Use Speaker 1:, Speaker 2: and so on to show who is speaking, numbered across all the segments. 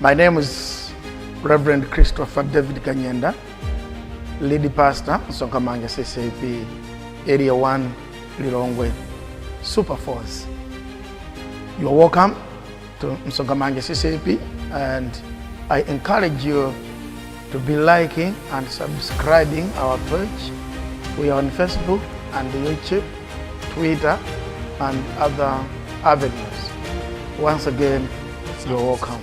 Speaker 1: My name is Reverend Christopher David Kanyenda, lead pastor, Sokamanga CCP, Area 1, Lilongwe, Super Force. You are welcome to Msongamange CCP and I encourage you to be liking and subscribing our page. We are on Facebook and YouTube, Twitter, and other avenues. Once again, you're welcome.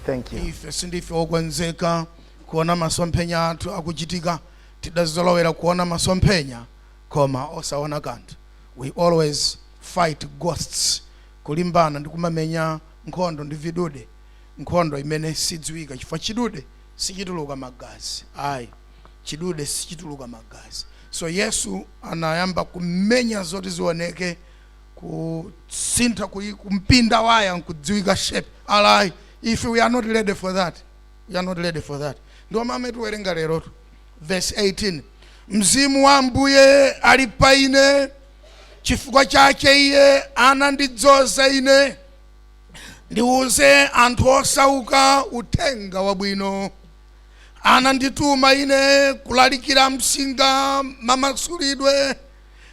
Speaker 1: Thank you. ife sindife okonzeka
Speaker 2: kuona masomphenya athu akuchitika tidazolowera kuona masomphenya koma osaona kanthu we always fight ghosts kulimbana ndi kumamenya nkhondo ndi vidude nkhondo imene sidziwika chifukwa chidude sichituluka magazi ayi chidude sichituluka magazi so yesu anayamba kumenya zoti zioneke kusintha kuyi- kumpinda waya nkudziwika shape alright if we are not ready for that we are not ready for that ndiye amene tiwerenga lero tu verse 18 mzimu wa ambuye ali pa ine chifukwa chake iye anandidzoza ine ndiuze anthu osauka uthenga wabwino. Anandituma ine kulalikira am'nsinga mamasulidwe,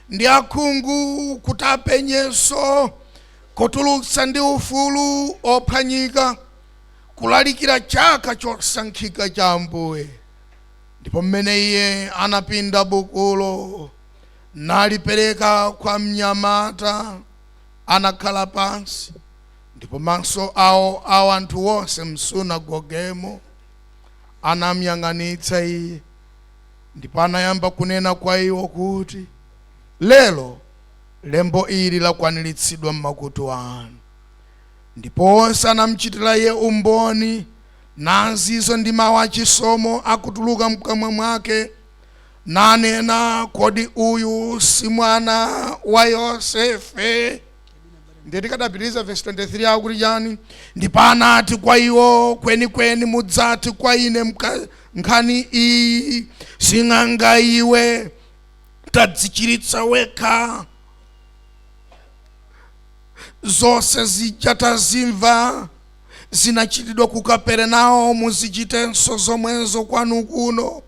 Speaker 2: ndi akhungu kuti apenyenso, kutulutsa ndi ufulu ophwanyika, kulalikira chaka chosankhika cha Ambuye. Ndipo m'mene iye anapinda bukulo, nalipereka kwa mnyamata. anakhala pansi, ndipo maso awo a anthu onse m'sunagogemo anamyang'anitsa Iye, ndipo anayamba kunena kwa iwo kuti, Lero lembo ili lakwaniritsidwa m'makutu anu. Ndipo onse anamchitira Iye umboni, nazizwa ndi mawu achisomo akutuluka mkamwa mwake. nanena, Kodi uyu si mwana wa Yosefe? Ndiye tikadapitiriza vesi 23 akuti chani? Ndipo anati kwa iwo, kwenikweni mudzati kwa ine mka- nkhani iyi, sing'anga iwe, tadzichiritsa wekha zonse zija tazimva zinachitidwa ku Kaperenaumu zichitenso zomwezo kwanu kuno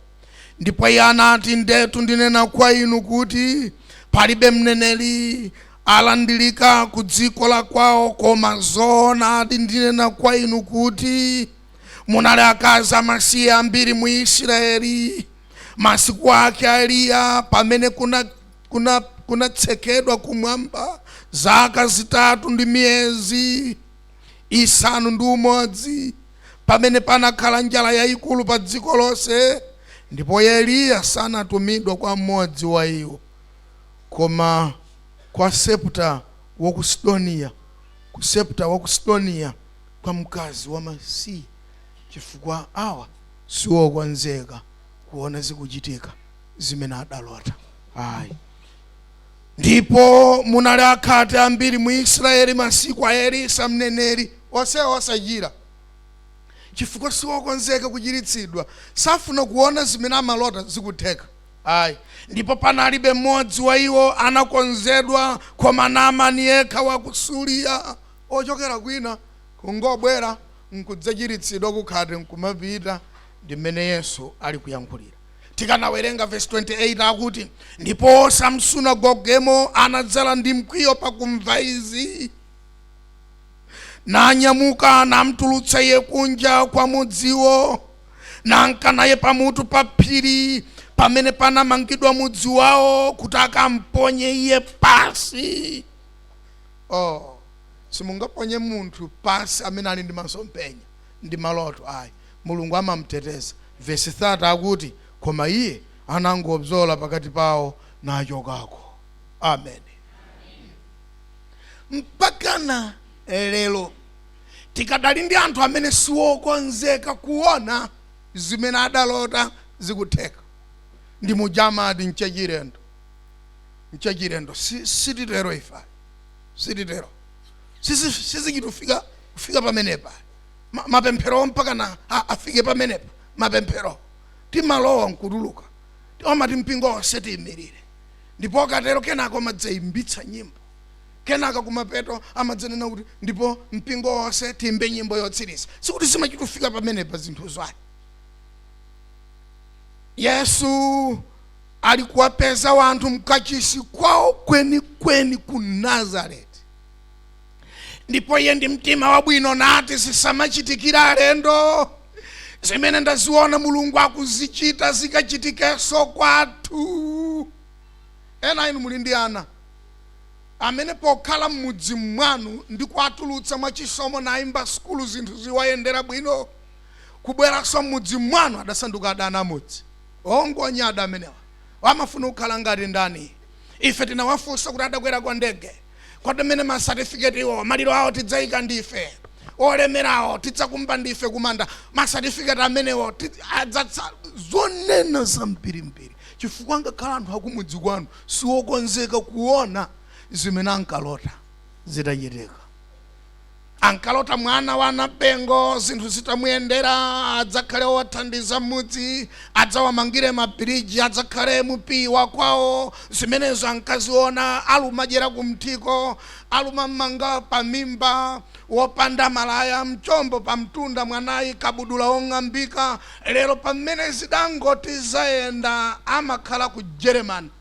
Speaker 2: Ndipo iye anati, Ndetu ndinena kwa inu, kuti palibe mneneri alandirika ku dziko la kwawo, koma zoonadi ndinena kwa inu, kuti munali akazi amasiye ambiri mu Israyeli masiku ake a Eliya, pamene kuna kuna kunatsekedwa kumwamba zaka zitatu ndi miyezi isanu ndi umodzi. pamene panakhala njala yaikulu pa dziko lonse, ndipo Eliya sanatumidwa kwa mmodzi wa iwo, koma kwa Sarepta wa ku Sidoniya, ku Sarepta wa ku Sidoniya, kwa mkazi wamasiye, chifukwa awa siokonzeka kuona zikuchitika zimene adalota ayi. Ndipo munali akhate ambiri mu Israyeli masiku a Elisa mneneri, onsewo osachira, chifukwa si okonzeka kuchiritsidwa, safuna kuona zimene amalota zikutheka ayi, ndipo panalibe mmodzi wa iwo anakonzedwa koma Namani yekha wa ku Suriya, ochokera kwina, kungobwera n'kudzachiritsidwa kukhate n'kumapita. Ndi mmene Yesu ali kuyankhulira. tikanawerenga vesi 28 akuti ndipo samsunagogemo anadzala ndi mkwiyo pakumva izi nanyamuka namtulutsa iye kunja kwa mudziwo nanka naye pamutu pa phiri pamene panamangidwa mudzi wawo kuti akamponye iye pasi oh simungaponye munthu pasi amene ali ndi masomphenya ndi maloto ayi. Mulungu amamuteteza. Vesi 30 akuti, Koma iye anangobzola pakati pawo nachokako. Ameni. Mpakana lero tikadali ndi anthu amene siwokonzeka kuona zimene adalota zikutheka. Ndi muja amati nchachilendo, nchachilendo. Si, sititero ife ayi, sititero. Sizi- sizichitufika kufika pamenepa Ma- mapemphero mpakana a- afike pamenepa mapemphero timalowa nkutuluka omati mpingo onse tiyimirire ndipo akatero kenako amadzayimbitsa nyimbo kenaka kumapeto amadzanena kuti ndipo mpingo onse tiimbe nyimbo yotsiriza sikuti zimachitufika pamenepa zinthuzo ayi yesu ali kuwapeza wanthu mkachisi kwawo kwenikweni ku nazareti ndipo iye ndi mtima wabwino nati zisamachitikire alendo zimene ndaziona mulungu akuzichita zikachitikenso kwathu ena inu muli ndi ana amene pokhala m'mudzi mwanu ndi kuwatulutsa mwachisomo nayimba sukulu zinthu ziwayendera bwino kubweranso m'mudzi mwanu adasanduka adani amudzi Oh, ngonyada amenewa. Amafuna kukhala ngati ndani? Ife tinawafunsa kuti adakwerako ndege, Kodi amene ma satifiketiwo, maliro awo tidzaika ndife? Olemerawo tidzakumba ndife kumanda? Ma satifiketi amenewo ti- adzatsa. Zonena zambirimbiri, chifukwa ngakhale anthu akumudzi kwanu siwokonzeka kuona zimene ankalota zitachitika. ankalota mwana wa nabengo zinthu zitamuyendera adzakhale wothandiza m'mudzi adzawamangire mabiriji adzakhale mupiyi wa kwawo zimenezo ankaziona alumadyera kumthiko alumamanga pa mimba wopanda malaya mchombo pa mtunda mwanayi kabudula wong'ambika lero pamene zidangoti zayenda amakhala ku jeremani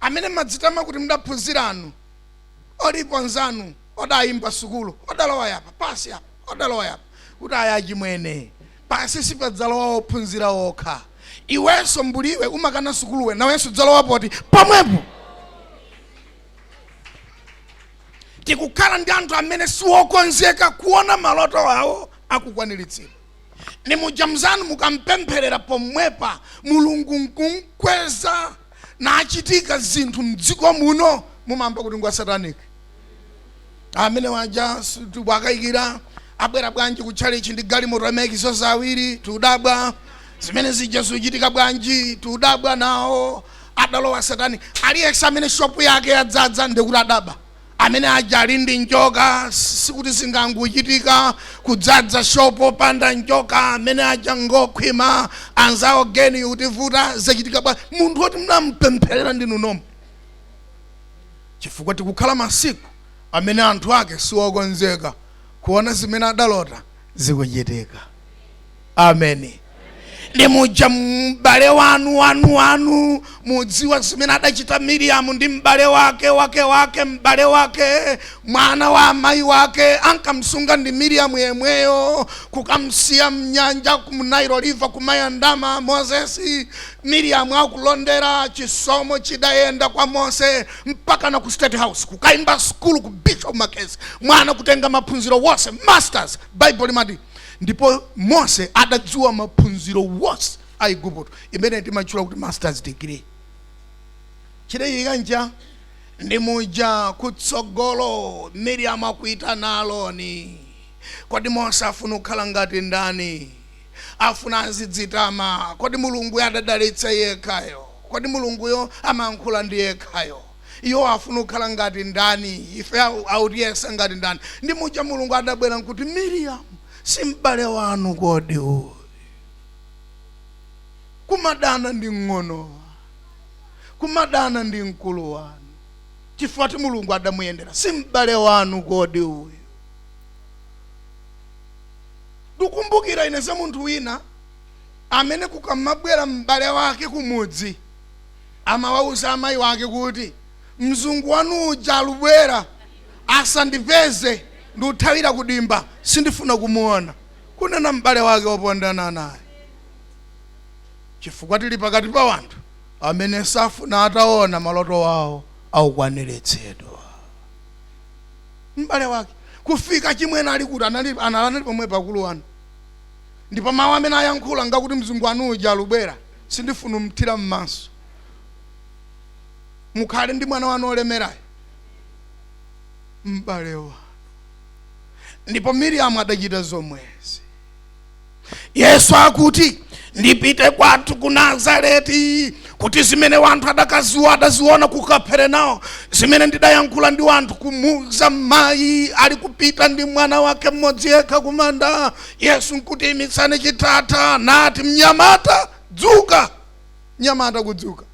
Speaker 2: amene mmadzitama kuti mdaphunziranu alipo anzanu odayimba sukulu odalowa yapa pansi apa odalowa yapa kuti aya achimwene pansi sipadzalowa ophunzira okha iwenso mbuliwe umakana sukuluwe nawenso udzalowa poti pomwepo tikukhala ndi anthu amene siwokonzeka kuona maloto awo akukwaniritsidwa ndi muja mzanu mukampempherera pomwepa mulungu nkumkweza nachitika zinthu mdziko muno mumamva kuti ngwa satanic amene aja tiwakayikira abwera bwanji ku tchalitchi ndi galimoto amayikiso zawiri tiudabwa zimene zija zikuchitika bwanji tiudabwa nawo adalowa satanic aliyense amene shopu yake yadzadza nde kuti adaba Amene aja ali ndi njoka sikuti zingangochitika kudzadza shopu popanda njoka amene aja ngokhwima anzawo geni utivuta zachitika bwa munthu woti mnampempherera ndinu nomwe chifukwa tikukhala masiku amene anthu ake siwokonzeka kuona zimene adalota zikuchitika ameni ndi muja m'bale wanu wanu wanu mudziwa zimene adachita miriamu ndi m'bale wake wake wake m'bale wake mwana wa amayi wake ankamsunga ndi miriamu yemweyo kukamsiya mnyanja ku nile river kumayandama mozesi miriamu akulondera chisomo chidayenda kwa mose mpaka na ku state house kukaimba skulu ku bishop makezi mwana kutenga maphunziro wonse masters bible limati ndipo mose adadziwa maphunziro wonse a igupto imene timatchula kuti masters degree chidachitika nchani ndi muja kutsogolo miriamu akuita naloni kodi mose afuna kukhala ngati ndani afuna azidzitama kodi mulunguyo adadalitsa yekhayo kodi mulunguyo amankhula ndi yekhayo Iwo afuna kukhala ngati ndani? Ife autiyesa ngati ndani? Ndi muja Mulungu adabwera nkuti, Miriamu, si m'bale wanu kodi uyu? Kumadana ndi mng'ono wanu, kumadana ndi mkulu wanu. Chifukwa choti Mulungu adamuyendera, si m'bale wanu kodi uyu? Ndukumbukira ine za munthu wina amene kukamabwera m'bale wake kumudzi, amawauza amayi wake kuti, Mzungu wanu uja, alubwera, asandipeze ndiuthawira kudimba, sindifuna kumuona, kunena m'bale wake wopondana naye, chifukwa tili pakati pa wanthu amene safuna ataona maloto awo aukwaniritsidwa. M'bale wake kufika chimwene ali kuti anali anali pomwe pakulu wanu ndipo mawu amene ayankhula ngakuti mzungu wanu uja alubwera sindifuna mthira mmaso mukhale ndi mwana wanu olemerayo m'bale wanu ndipo miriamu adachita zomwezi yesu akuti ndipite kwathu ku nazareti kuti zimene wanthu adakaziona ku kaperenawo zimene ndidayankhula ndi wanthu kumuuza mayi ali kupita ndi mwana wake mmodzi yekha kumanda Yesu nkuti imitsani chitatha nati, Mnyamata, dzuka! Mnyamata kudzuka.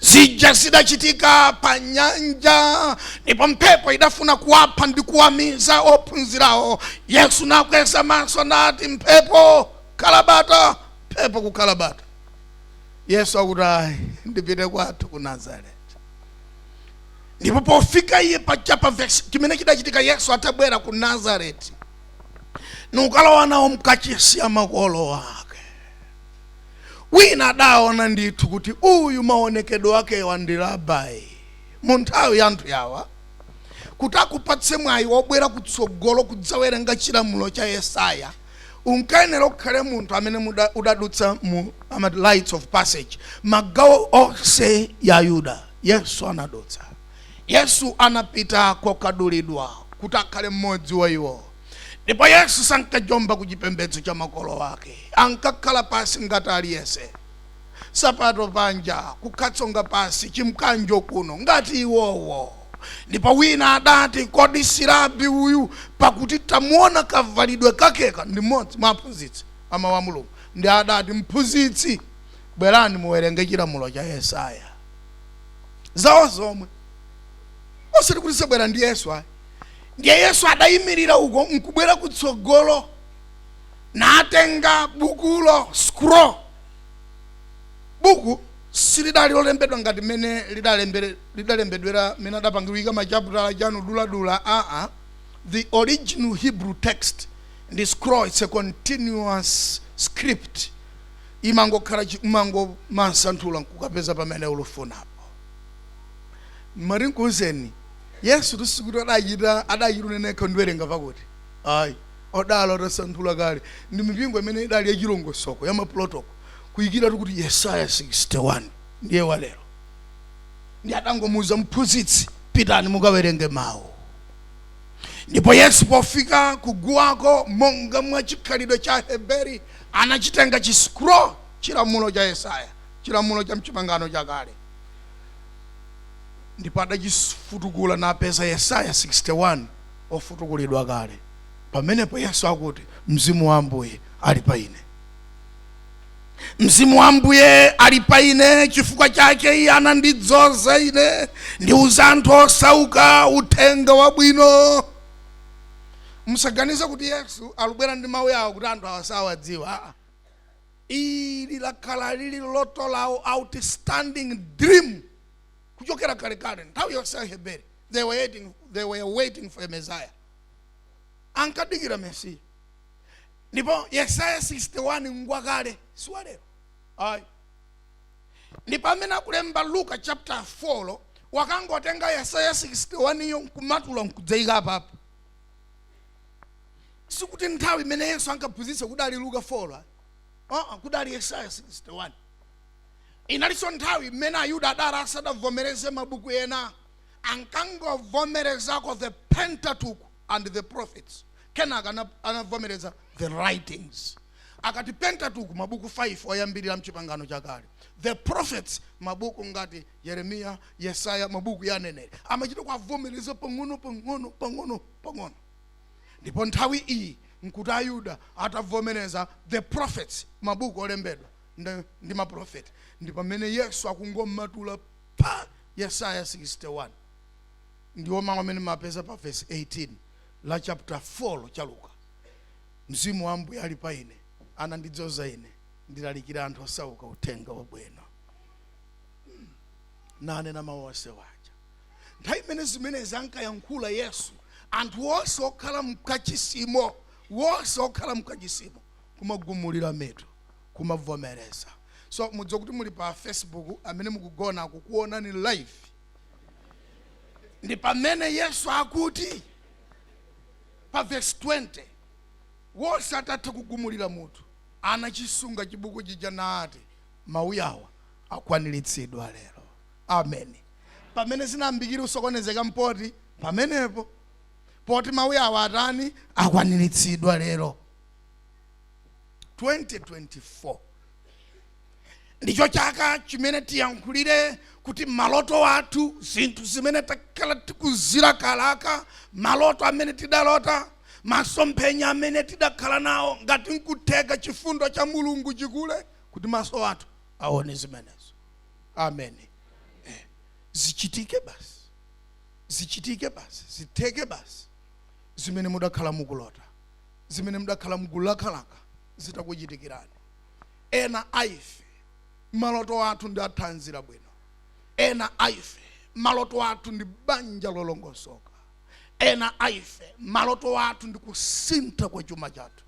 Speaker 2: Zija zidachitika pa nyanja, ndipo mphepo idafuna kuwapha ndi kuwamiza ophunzirawo. Yesu nakweza maso nati, Mphepo, khala bata! Mphepo kukhala bata. Yesu akuti, Ayi, ndipite kwathu ku Nazareti. ndipo pofika iye pa chapa vesi chimene chidachitika yesu atabwera ku nazareti nukalowa nawo mkachisi ya makolo ake wina adaona ndithu kuti uyu maonekedwe akewa ndi rabai mu nthawi ya anthu yawa kuti akupatse mwayi wobwera kutsogolo kudzawerenga chilamulo cha yesaya unkayenera ukhale munthu amene udadutsa mu ma rites of passage magawo onse ya yuda Yesu anadutsa. Yesu anapita kokadulidwa kuti akhale mmodzi wa iwo. Ndipo Yesu sankajomba ku chipembedzo cha makolo ake. Ankakhala pansi ngati aliyense. Nsapato panja, kukhala tsonga pansi, chimkanjo kuno, ngati iwowo. Ndipo wina adati, Kodi si Rabi uyu? Pakuti tamuona kavalidwe kakeka. Ndi mmodzi mwa aphunzitsi a Mawu a Mulungu. Ndiye adati, Mphunzitsi, Bwerani muwerenge chilamulo cha Yesaya. Zawo zomwe. Osati kuti zabwera ndi Yesu ayi. Ndiye Yesu adayimirira uko nkubwera kutsogolo natenga bukulo scroll. Buku silidali lolembedwa ngati mmene lidalembedwera mmene adapangira kuika machaputala chani duladula aa the original hebrew text ndi scroll its a continuous script imangokhala chiscroll umangomasanthula nkukapeza pamene ulufunapo mati nkuuzeni yesutu sikuti adachita adachita unena yekha ndiwerenga pakuti ayi udali utasanthula kale ndi mipingo imene idali yachilongosoko ya ma protocol kuyikiratu kuti yesaya 61 ndiye walero ndi adangomuuza mphunzitsi pitani mukawerenge mawu ndipo yesu pofika kuguwako monga mwa chikhalidwe cha heberi anachitenga chi scroll chilamulo cha yesaya chilamulo cha mchipangano chakale ndipo adachifutukula napeza yesaya 61 ofutukulidwa kale pamenepo yesu akuti mzimu wa ambuye ali pa ine mzimu wa ambuye ali pa ine chifukwa chake iye anandidzoza ine ndiuze anthu osauka uthenga wabwino musaganize kuti yesu alubwera ndi mawu yawa kuti anthu asawadziwa aa ili lakhala lili loto lawo outstanding dream kuchokera kalekale nthawi yonse aheberi they were waiting, they were waiting for a messiah ankadikira mesiya ndipo yesaya 61 ngwakale siwalero ayi ndipo amene akulemba luka chapter 4 yo wakangotenga yesaya 61 iyo nkumatula nkudzaika apapo sikuti nthawi imene yesu ankaphunzitsa kudali luka 4 yo uh-uh, kudali yesaya 61 inalinso nthawi imene ayuda adali asadavomereze mabuku ena ankangovomerezako the pentateuch and the prophets Kenaka anavomereza the writings, akati Pentateuch, mabuku 5 oyambirira m'Chipangano Chakale, the prophets, mabuku ngati Yeremiya, Yesaya, mabuku ya aneneri, amachita kuwavomereza pang'ono pang'ono pang'ono pang'ono. Ndipo nthawi iyi nkuti Ayuda atavomereza the prophets, mabuku olembedwa ndi, ndi maprofeti, ndipo pamene Yesu akungomatula pa Yesaya 61 ndiwo mawu amene mwapeza pa vesi 18 la chaputa 4-cho cha Luka, Mzimu wa Ambuye ali pa ine, anandidzoza ine ndilalikire anthu osauka uthenga wabwino. Hmm. Nanena mawu onse waja. Nthawi imene zimenezi ankayankhula Yesu, anthu onse okhala mkachisimo, wonse okhala mkachisimo, kumagumulira mitu, kumavomereza. So mudziwe kuti muli pa Facebook, amene mukugonanu akukuonani live. Ndi pamene Yesu akuti, pa vesi 20, Wonse atatha kugumulira mutu, anachisunga chibuku chija naati, Mawu awa akwaniritsidwa lero. Amen. Pamene zinayambikira kusokonezeka mpoti pamenepo, poti Mawu awa atani? Akwaniritsidwa lero. 2024. ndicho chaka chimene tiyankhulire kuti maloto athu zinthu zimene takhala tikuzilakalaka maloto amene tidalota masomphenya amene tidakhala nawo ngati nkutheka chifundo cha mulungu chikule kuti maso athu aone zimenezo amen zichitike basi zichitike basi zitheke basi zimene mudakhala mukulota zimene mudakhala mukulakalaka zitakuchitikirani Ena a ife maloto athu ndi a thanzi labwino. Ena a ife maloto athu ndi banja lolongosoka. Ena a ife maloto athu ndi kusintha kwa chuma chathu.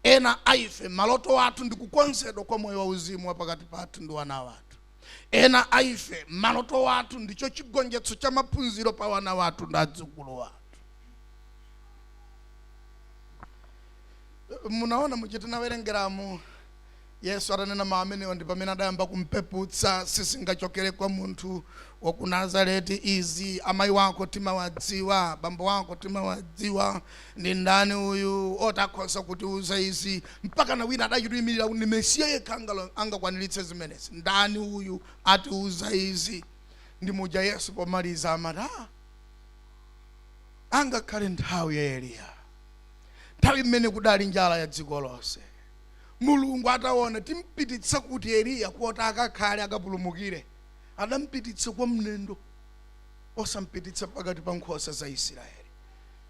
Speaker 2: Ena a ife maloto athu ndi kukonzedwa kwa moyo wauzimu wa pakati pathu ndi wana wathu. Ena a ife maloto athu ndicho chigonjetso cha maphunziro pa wana wathu ndi adzukulu athu. munaona muja tinawerengeramu yesu atanena mawu amenewo ndi pamene adayamba kumpeputsa sizingachokere kwa munthu wa ku nazareti izi amayi wako timawadziwa bambo wako timawadziwa ndi ndani uyu oti akhoza kutiuza izi mpaka na wina adachituyimirira kuti ndi mesiya yekha angakwaniritse zimenezi ndani uyu atiuza izi ndi muja yesu pomaliza amati "Ah, angakhale nthawi ya eliya nthawi imene kudali njala ya dziko lonse mulungu ataona timpititsa kuti eliya kuti akakhale akapulumukire adampititsa kwa mnendo osampititsa pakati pa nkhosa za isiraeli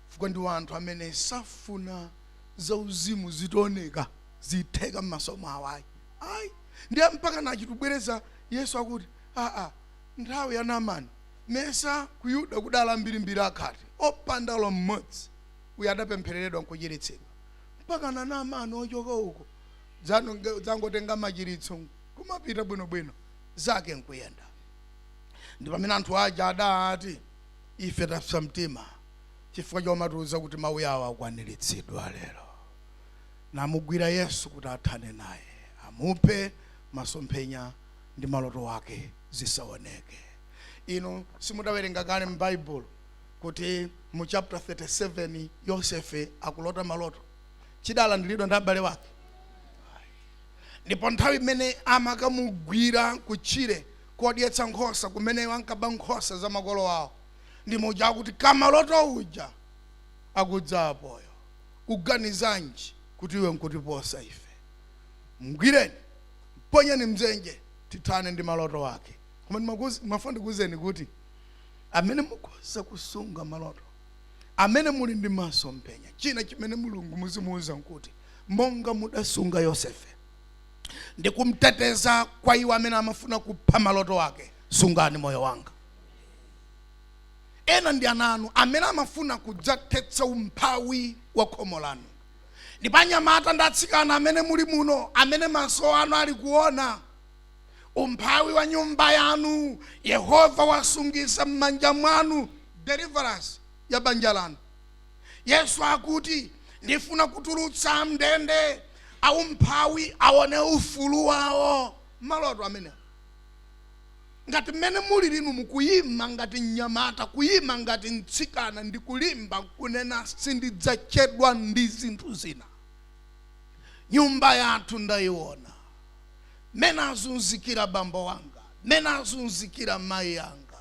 Speaker 2: chifukwa ndi anthu amene safuna zauzimu zitaoneka zitheka m'maso mwawo ayi ayi ndiye mpaka nachitubwereza yesu akuti aa nthawi ya naamani mesa ku yuda kudali mbirimbiri akhate opanda olo mmodzi yemwe adapemphereredwa nkuchiritsidwa mpaka na naamani ochoka uko dzangotenga machiritso kumapita bwinobwino zake nkuyenda ndi pamene anthu aja adati ife tapsa mtima chifukwa chomatiuza kuti mawu awa akwaniritsidwa lero namugwira yesu kuti athane naye amuphe masomphenya ndi maloto wake zisaoneke inu simudawerenga kale m'baibulo kuti mu chapter 37 yosefe akulota maloto chidalandiridwa ndi abale wake ndipo nthawi imene amakamugwira kutchire kodyetsa nkhosa kumene ankaba nkhosa za makolo awo ndi muja akuti kamaloto uja akudza apoyo uganizanji kuti iwe nkutiposa ife mgwireni mponyeni mdzenje tithane ndi maloto ake koma ndimafuna ndikuwuzeni kuti amene mukhoza kusunga maloto, amene muli ndi masomphenya. China chimene Mulungu muzimuuza nkuti, monga mudasunga Yosefe ndi kumteteza kwa iwo amene amafuna kupha maloto ake, sungani moyo wanga. Ena ndi ana anu amene amafuna kudzathetsa umphawi wa khomo lanu. Ndipo anyamata ndi atsikana amene muli muno, amene maso anu ali kuona, umphawi wa nyumba yanu yehova wasungisa m'manja mwanu deliverance ya banja lanu yesu akuti ndifuna kutulutsa am'ndende a umphawi aone ufulu wawo maloto amenewo ngati mmene mulili inu mukuyima ngati mnyamata kuyima ngati mtsikana ndi kulimba kunena sindidzachedwa ndi zinthu zina nyumba yathu ndayiona mmene azunzikira bambo anga mmene azunzikira mayi anga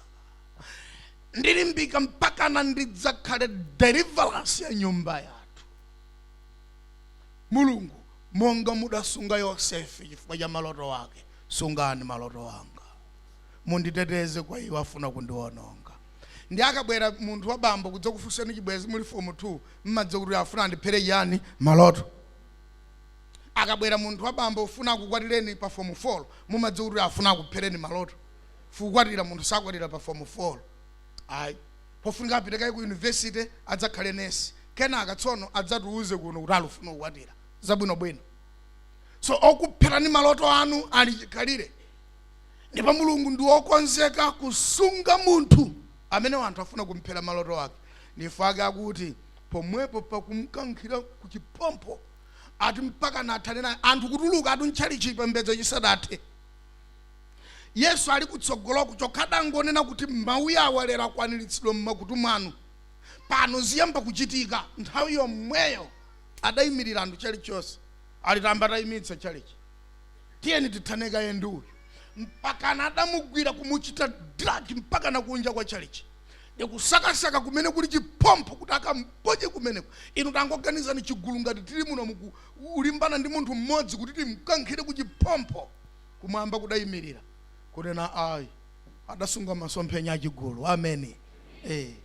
Speaker 2: ndilimbika mpakana ndidzakhale deliverance ya nyumba yathu mulungu monga mudasunga yosefe chifukwa cha maloto ake sungani maloto anga munditeteze kwa iwo afuna kundiwononga ndi akabwera munthu wa bambo kudzakufunsani chibwezi muli fomu 2 mumadziwa kuti afuna andiphere chiyani maloto akabwera munthu wa bambo kufuna akukwatireni pa fomu folo mumadziwa kuti afuna akuphereni maloto chifukwa kukwatira munthu sakwatira pa fomu folo ayi pofunika apite kaye ku yunivesite adzakhale nesi kenaka tsono adzatiuze kuno kuti alufuna kukwatira zabwinobwino so okupherani maloto anu ali chikhalire ndipo mulungu ndi wokonzeka kusunga munthu amene wanthu afuna kumphera maloto ake ndi chifukwa chake akuti pomwepo pakumkankhira ku chiphompho ati mpakana athane naye anthu kutuluka ati mtchalichi chipembedzo chisadathe yesu ali kutsogoloko chokha adangonena kuti mawu awa lero akwaniritsidwa mmakutu mwanu pano ziyamba kuchitika nthawi yomweyo adayimirira anthu chalichi chonse ali tayamba tayimitsa chalichi tiyeni tithane kaye ndi uyu mpakana adamugwira kumuchita dragi mpakana kunja kwa chalichi ndi kusakasaka kumene kuli chiphompho kuti akamponye kumeneko. Inu tangoganizani chigulu ngati tili muno kulimbana ndi munthu mmodzi kuti timkankhire ku chiphompho kumwamba kudayimirira kunena ayi adasunga masomphenya achigulu ameni eh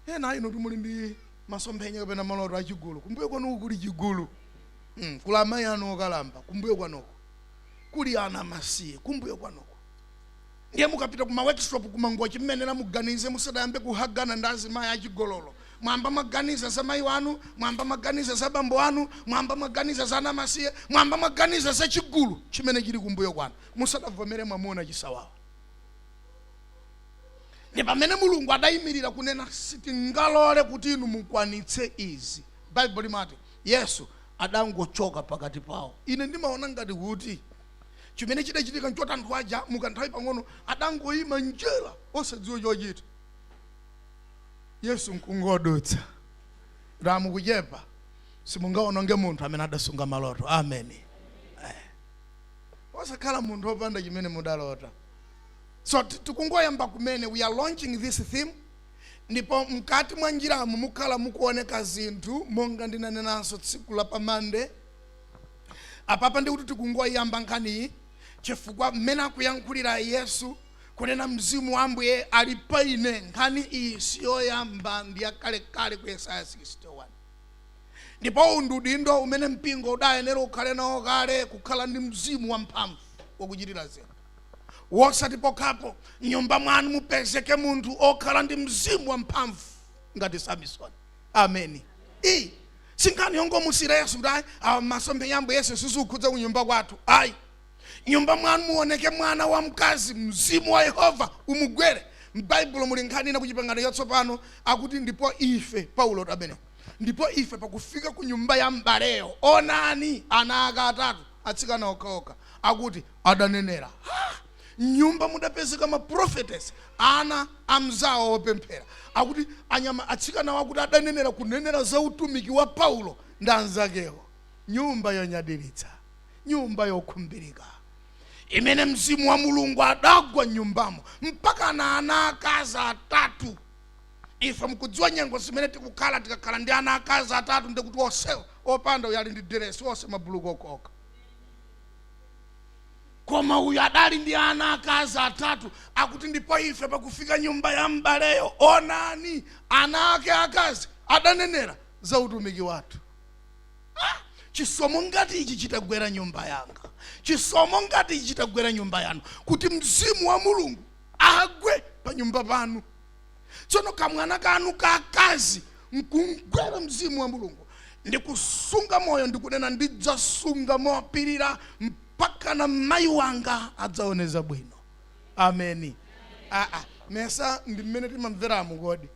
Speaker 2: enanu timuli ndi masomphenya kapena maloto achigulu kumbuyo kwanuko kuli chigulu mm, kuli amayi anu okalamba kumbuyo kwanuko kuli ana masiye kumbuyo kwanuko Ndiye mukapita ku ma workshop ku Mangochi mmenemu muganize musadayambe kuhagana ndi azimayi achigololo. Mwayamba mwaganiza za mayi anu, mwayamba mwaganiza za bambo anu, mwayamba mwaganiza za anamasiye, mwayamba mwaganiza za chigulu chimene chili kumbuyo kwanu musadavomere mwamuna chisawawa. Ndi pamene Mulungu adayimirira kunena sitingalole kuti inu mukwanitse izi. Baibulo limati Yesu adangochoka pakati pawo. Ine ndimaona ngati kuti Chimene chidachitika nchoti anthu aja mu kanthawi pang'ono adangoyima m'njira osadziwa chochita. Yesu nkungodutsa. Ra mukuchepa simungawononge munthu amene adasunga maloto. Ameni. Eh. Osakhala munthu opanda chimene mudalota. So ti- tikungoyamba kumene we are launching this theme ndipo mkati mwa njiramu mukhala mukuoneka zinthu monga ndinanenanso tsiku la pamande Apapa ndiye kuti tikungoyiyamba nkhaniyi chifukwa mmene akuyankhulira Yesu kunena mzimu wa Ambuye ali pa ine, nkhani iyi siyoyamba ndi yakalekale ku Yesaya 61. Ndipo uwu ndi udindo umene mpingo udayenera ukhale nawo kale, kukhala ndi mzimu wamphamvu wakuchitira zinthu, wosati pokhapo m'nyumba mwanu mupezeke munthu okhala ndi mzimu wamphamvu ngati Samisoni. ameni iyi sinkhani yongomusiyira yesu kuti ayi awa masomphenya a ambuye yesu sizikukhudza ku nyumba kwathu ayi nyumba mwanu muoneke mwana wa mkazi mzimu wa yehova umugwere m'baibulo muli nkhani ina kuchipangano chatsopano akuti ndipo ife paulo tabene ndipo ife pakufika ku nyumba ya m'baleyo onani ana ake atatu atsikana okhaokha akuti adanenera ha! M'nyumba mudapezeka ma prophetess, ana amzawo opemphera. Akuti anyama, atsikanawo akuti adanenera kunenera za utumiki wa Paulo ndi anzakewo. Nyumba yonyadiritsa, nyumba yokhumbirika imene Mzimu wa Mulungu adagwa m'nyumbamo mpakana ana akazi atatu. Ife mukudziwa nyengo zimene tikukhala, tikakhala ndi ana akazi atatu ndiye kuti onsewo opanda uyo ali ndi diresi, onse mabuluku okhaokha. Koma uyu adali ndi ana akazi atatu, akuti, ndipo ife pakufika nyumba ya m'baleyo, onani, ana ake akazi adanenera za utumiki wathu. Ha! Chisomo ngati ichi chitagwera nyumba yanga, chisomo ngati ichi chitagwera nyumba yanu, kuti Mzimu wa Mulungu agwe panyumba panu. tsono kamwana kanu kakazi nkumgwera mzimu wa mulungu ndikusunga moyo ndikunena ndidzasunga mopirira mpakana mayi wanga adzaoneza bwino ameni aa nesa ndi mmene timamveramo kodi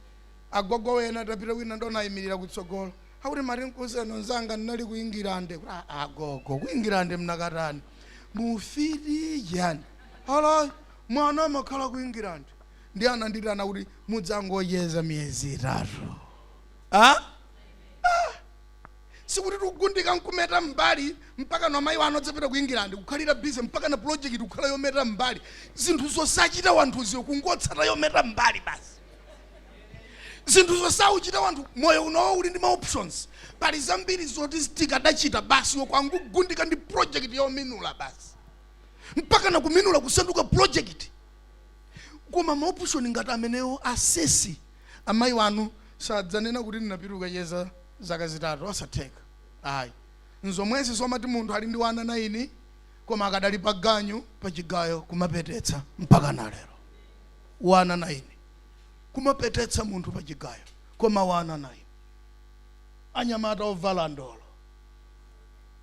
Speaker 2: agogo wena tapita wina ndinayimirira kutsogolo akuti mari nkuseno nzanga ndinali ku ingilande Kuti, "Ah, ah, agogo ku ingilande mnakatani mufiti yani alo mwana amakhala ku ingilande ndiye anandiitana kuti mudzangocheza miyezi itatu ah? ah. sikuti tizigundika nkumeta mbali mpaka na mayi wanu adzapita ku england kukhalira busy mpaka na project kukhala yometa mbali zinthu zosachita wanthuzo kungotsata yometa mbali basi zinthu zosauchita wanthu moyo unowo uli ndi ma options pali zambiri zoti tikadachita basi wokangogundika ndi project yominula basi mpaka na kuminula kusanduka project koma ma option ngati amenewo asisi amayi wanu sadzanena kuti ndinapita kukacheza zaka zitatu osatheka ayi nzomwezi zomati munthu ali ndi wana naini koma akadali pa ganyu pa chigayo kumapetetsa mpaka na lero wana naini kumapetetsa munthu pa chigayo koma wana naini anyamata ovala ndolo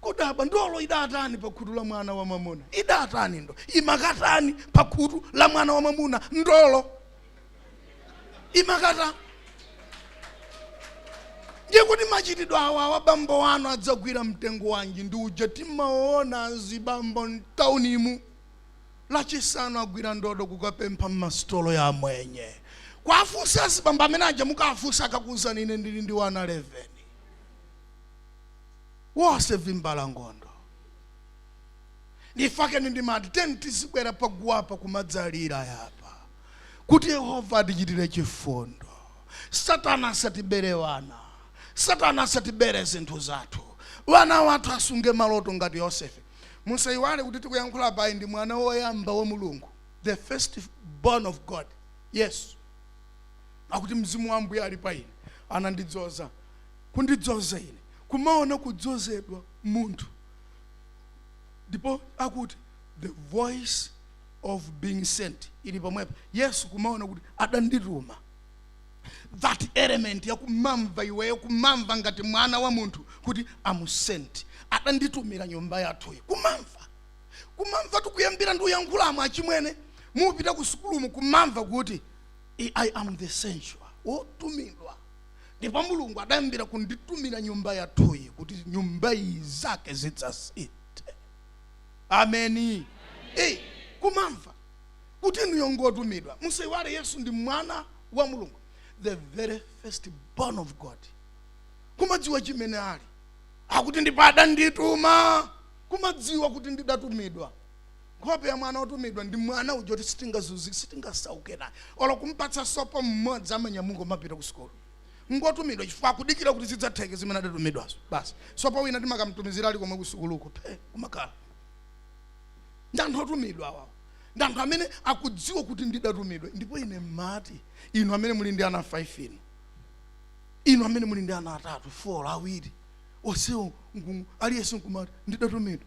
Speaker 2: kudabwa ndolo idatani pa khutu la mwana wa mwamuna idatani ndo imakatani pa khutu la mwana wa mwamuna ndolo imakata ndiye kuti machitidwe awa awa bambo wanu adzagwira mtengo wanji ndi uja timaona azibambo mtaunimu lachisanu agwira ndodo kukapempha mmasitolo ya amwenye kuwafunsa azibambo amene aja mukawafunsa akakuuzani ine ndili ndi wana 11 wose vimbalangondo ndifakeni ndimati teni tizibwera paguwapa kumadzalira apa kuti yehova atichitire chifundo satana asatibere wana satana asatibere zinthu zathu wana wathu asunge maloto ngati yosefe musayiwale kuti tikuyankhula apayi ndi mwana woyamba wa mulungu the first born of god yesu akuti mzimu wa ambuye ali pa ine anandidzoza kundidzoza ine, kumaona kudzozedwa, munthu, ndipo akuti, The voice of being sent, ili pomwepa, Yesu kumaona kuti adandituma. That element ya kumamva iweyo, kumamva ngati mwana wa munthu, kuti am sent, adanditumira nyumba yathuyi, kumamva kumamva tikuyambira ndi uyankhulamo achimwene mupita ku sukulumu kumamva kuti i I am the sent one wotumidwa ndipo mulungu adayambira kunditumira nyumba yathuyi kuti nyumba iyi zake zidzasinthe ameni eyi kumamva kuti inuyo ngotumidwa musayiwale yesu ndi mwana wa mulungu the very first born of god kumadziwa chimene ali akuti ndipo adandituma kumadziwa kuti ndidatumidwa nkhope ya mwana otumidwa ndi mwana uja kuti sitingazunzike sitingasauke naye olo kumpatsa sopo mmodzi amanyamuka kumapita ku sukulu ngotumidwa chifukwa akudikira kuti zidzatheke zimene adatumidwazo basi sopo wina timakamtumizira ali komwe ku sukuluko phe kumakhala ndi anthu otumidwa awawo ndi anthu amene akudziwa kuti ndidatumidwa ndipo ine mmati inu amene muli ndi ana 5 inu inu amene muli ndi ana atatu 4 awiri onsewo nku- aliyense nkumati ndidatumidwa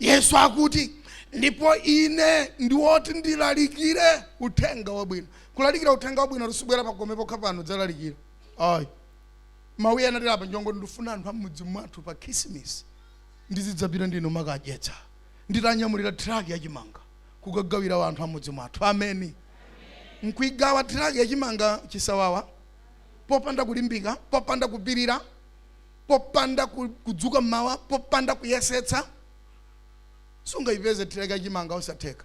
Speaker 2: Yesu akuti, Ndipo Ine ndi woti ndilalikire uthenga wabwino. Kulalikira uthenga wabwino sikubwera pa gome pokha pano dzalalikira. Ayi. Mawu iye anatera apa njongo ndifuna anthu amudzi mwathu pa khisimisi ndizidzapita ndikumakadyetsa. Nditanyamulira thiraki ya chimanga kukagawira anthu amudzi mwathu. Ameni. Nkuigawa thiraki ya chimanga chisawawa popanda kulimbika, popanda kupirira. popanda ku- kudzuka mmawa popanda kuyesetsa sungayipeze thiraki ya chimanga osatheka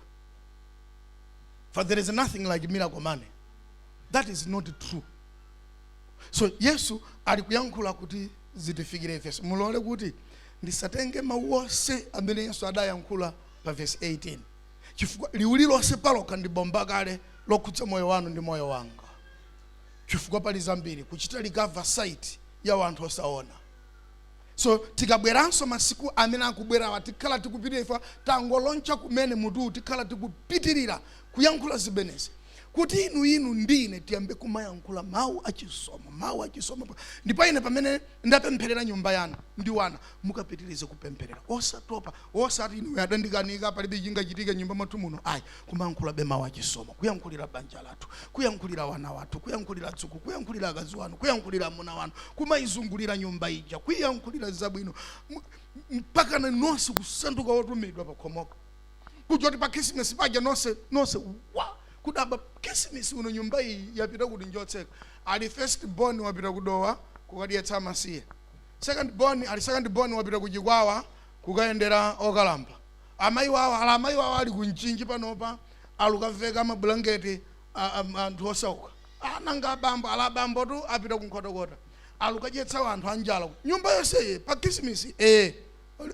Speaker 2: for there is nothing like miracle money that is not true so yesu ali kuyankhula kuti zitifikire ifenso mulole kuti ndisatenge mawu onse amene yesu adayankhula pa vesi 18 chifukwa liwu lilonse palokha ndi bomba kale lokhudza moyo wanu ndi moyo wanga chifukwa pali zambiri kuchita recover sight ya wanthu osaona so tikabweranso masiku amene akubwerawa tikhala tikupitirira chifukwa tangoloncha kumene mutuwu tikhala tikupitirira kuyankhula zimenezi kuti inu inu ndi ine tiyambe kumayankhula mawu achisomo mawu achisomo pa- ndipo ine pamene ndapempherera nyumba yanu ndi wana mukapitirize kupempherera osatopa osati inu adandikanika palibe chingachitike nyumba mwathu muno ayi kumayankhulabe mawu achisomo kuyankhulira banja lathu kuyankhulira wana wathu kuyankhulira adzukulu kuyankhulira akazi wanu kuyankhulira amuna wanu kumayizungulira nyumba ija kuyankhulira zabwino M- mpakana nonse kusanduka wotumidwa pakhomopo kuja kuti pa khisimusi paja nonse nonse wa kudabwa khisimusi uno nyumba iyi yapita kuti njotseka ali first born wapita ku dowa kukadyetsa amasiye second born ali second born wapita ku chikwawa kukayendera okalamba Amayi wawo, ala amayi wawo ali ku Mchinji panopa, alukaveka mabulangeti anthu osauka. Ah, nanga abambo, ala abambotu apita ku Nkhotakota, alukadyetsa wanthu anjala. ku- Nyumba yonse iyi, pa Khisimisi, eh,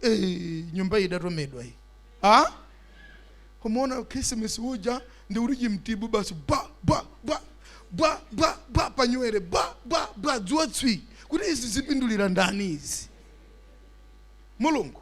Speaker 2: eh, nyumba iyi idatomedwa iyi. Ah? Kumuona Khisimisi uja ndi uli chimtibu basi bwa bwa bwa bwa bwa bwa panyuwere bwa bwa bwa dzuwa tswi kuti izi zipindulira ndani izi mulungu